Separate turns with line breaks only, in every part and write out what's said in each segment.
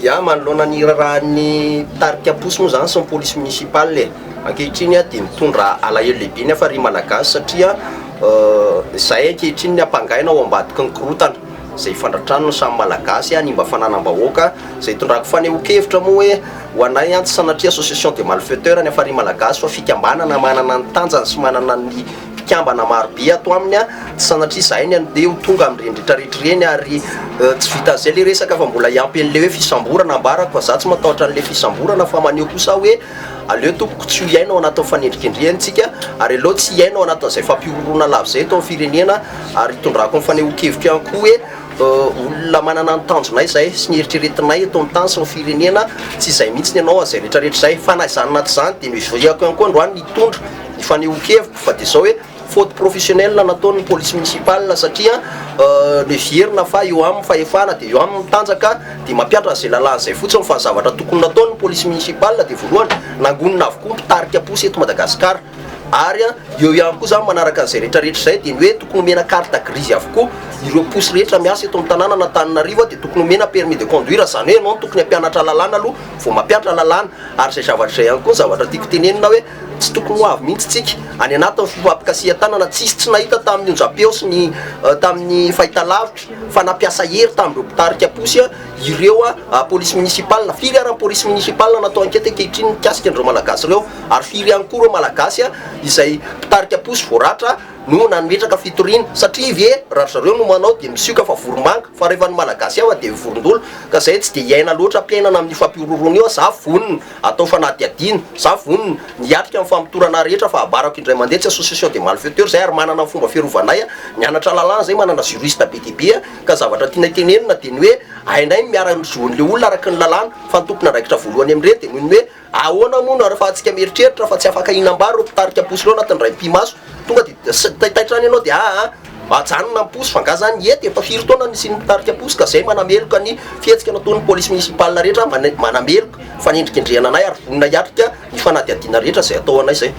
Ya, manoloana ny irarahan'ny mpitarika posy moa izany sy ny polisy municipal e! ankehitriny dia mitondra alahelo lehibe ny hafa ry Malagasy satria izay ankehitriny ny ampangaina ao ambadiky ny korotana izay ifandratrany ny samy Malagasy, hanimba fananam-bahoaka, izay itondrako fanehoan-kevitra moa hoe ho anay tsy sanatria association des malfaiteurs ny hafa ry Malagasy fa fikambanana manana ny tanjany sy manana ny. mpikambana maro be ato aminy a, tsy sanatria izahay ny an'ny dia ho tonga amin'ireny retraretra ireny ary tsy vitan'izay ilay resaka fa mbola hiampy an'ilay hoe fisamborana ambarako fa izaho tsy matahotra an'ilay fisamborana fa maneho kosa aho hoe aleo tompoko tsy ho hiaina ao anatin'ny fanendrikendrehana isika ary aleo tsy hiaina ao anatin'izay fampihorohoroana lava izay eto amin'ny firenena ary hitondrako ny fanehoan-keviko ihany koa hoe olona manana ny tanjonay izay sy ny heritreretinay eto amin'ny tany sy ny firenena tsy izay mihitsy ny anao an'izay retraretra izay fa na izany na tsy izany dia noheveriko ihany koa androany ny hitondra Fanehoan-keviko fa dia izao hoe faute professionnelle nataon'ny police municipale satria levier-na fa eo aminy fahefana dia eo aminy ny tanjaka dia mampiatra an'izay lalàna izay fotsiny fa ny zavatra tokony nataon'ny police municipale dia voalohany nangonina avokoa ny mpitarika posy eto Madagascar ary eo ihany koa izany manaraka an'izay retraretra izay dia ny hoe tokony omena carte grise avokoa ireo posy rehetra miasa eto amin'ny tanàna an'Antananarivo dia tokony omena permis de conduire izany hoe ianao no tokony hampianatra lalàna aloha vao mampiatra lalàna ary izay zavatra izay ihany koa ny zavatra tiako tenenina hoe Tsy tokony ho avy mihitsy tsika any anatin'ny fifampikasihan-tanana tsisy tsy nahita tamin'ny onjam-peo sy ny tamin'ny fahitalavitra fa nampiasa hery tamin'ireo mpitarika posy ireo polisy minisipalina. Firy ary ny polisy minisipalina natao ankety ankehitriny mikasika an'ireo Malagasy ireo ary firy ihany koa ireo Malagasy izay mpitarika posy voaratra no nametraka fitoriana? Satria ve raha ry zareo no manao dia misioka fa voromanga fa rehefa ny Malagasy hafa dia vorondolo ka izay tsy dia hiaina loatra am-piainana amin'io fampihorohoroana io aho? Za vonona Atao fanadihadiana. Za vonona. Ny hiatrika ny famotorana ahy rehetra fa abarako indray mandeha tsy association des malfaiteurs zay ary manana ny fomba fiarovanay a, nianatra lalàna zay manana juriste be dia be a, ka zavatra tianay tenenina dia ny hoe hainay ny miara ny zo an'le olona araky ny lalàna, fa ny tompon'andraikitra voalohany amin'ireny dia noho ny hoe ahoana moa nareo fa hatsika mieritreritra fa tsy afaka hinam-bary ireo mpitarika posy ireo anatin'ny indray mipi-maso tonga dia taitaitra any ianao dia aa. Ajanona ny posy fa nga zany hety efa firy taona nisian'ny mpitarika posy ka zay manameloka ny fihetsika nataon'ny police municipale rehetra manameloka fanendrikendrehana anay ary vonona hiatrika ny fanadihadiana rehetra zay atao anay zay.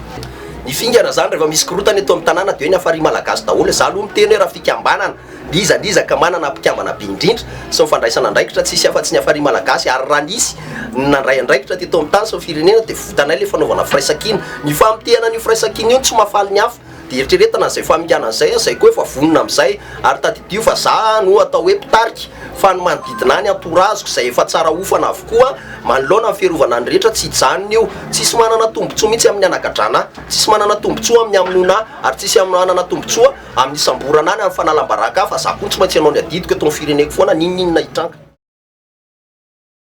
Ny fingana zany rehefa misy korotana eto amin'ny tanàna dia hoe ny hafarian'ny malagasy daholo, za aloha miteny hoe raha fikambanana n'iza n'iza ka manana mpikambana be indrindra sy ny fandraisana andraikitra tsisy afatsy ny hafarian'ny malagasy ary raha nisy ny nandray andraikitra teto amin'ny tany sy ny firenena dia votanay ilay fanaovana firaisankina, ny famotehana an'io firaisankina io no tsy mahafaly ny hafa. Dia eritreretina izay faminganana izay an, izay koa efa vonona amin'izay. Ary tadidio fa za no atao hoe mpitarika, fa ny manodidina ahy, ny entourage-ko, izay efa tsara hofana avokoa manoloana ny fiarovana ny rehetra, tsy hijanona io. Tsisy manana tombontsoa mihitsy amin'ny hanagadrana ahy, tsisy manana tombontsoa amin'ny hamonoana ahy, ary tsisy manana tombontsoa amin'ny hisamborana ahy na ny fanalam-baraka ahy, fa za koa tsy maintsy hanao ny adidiko eto amin'ny fireneko foana, n'inon'inona hitranga.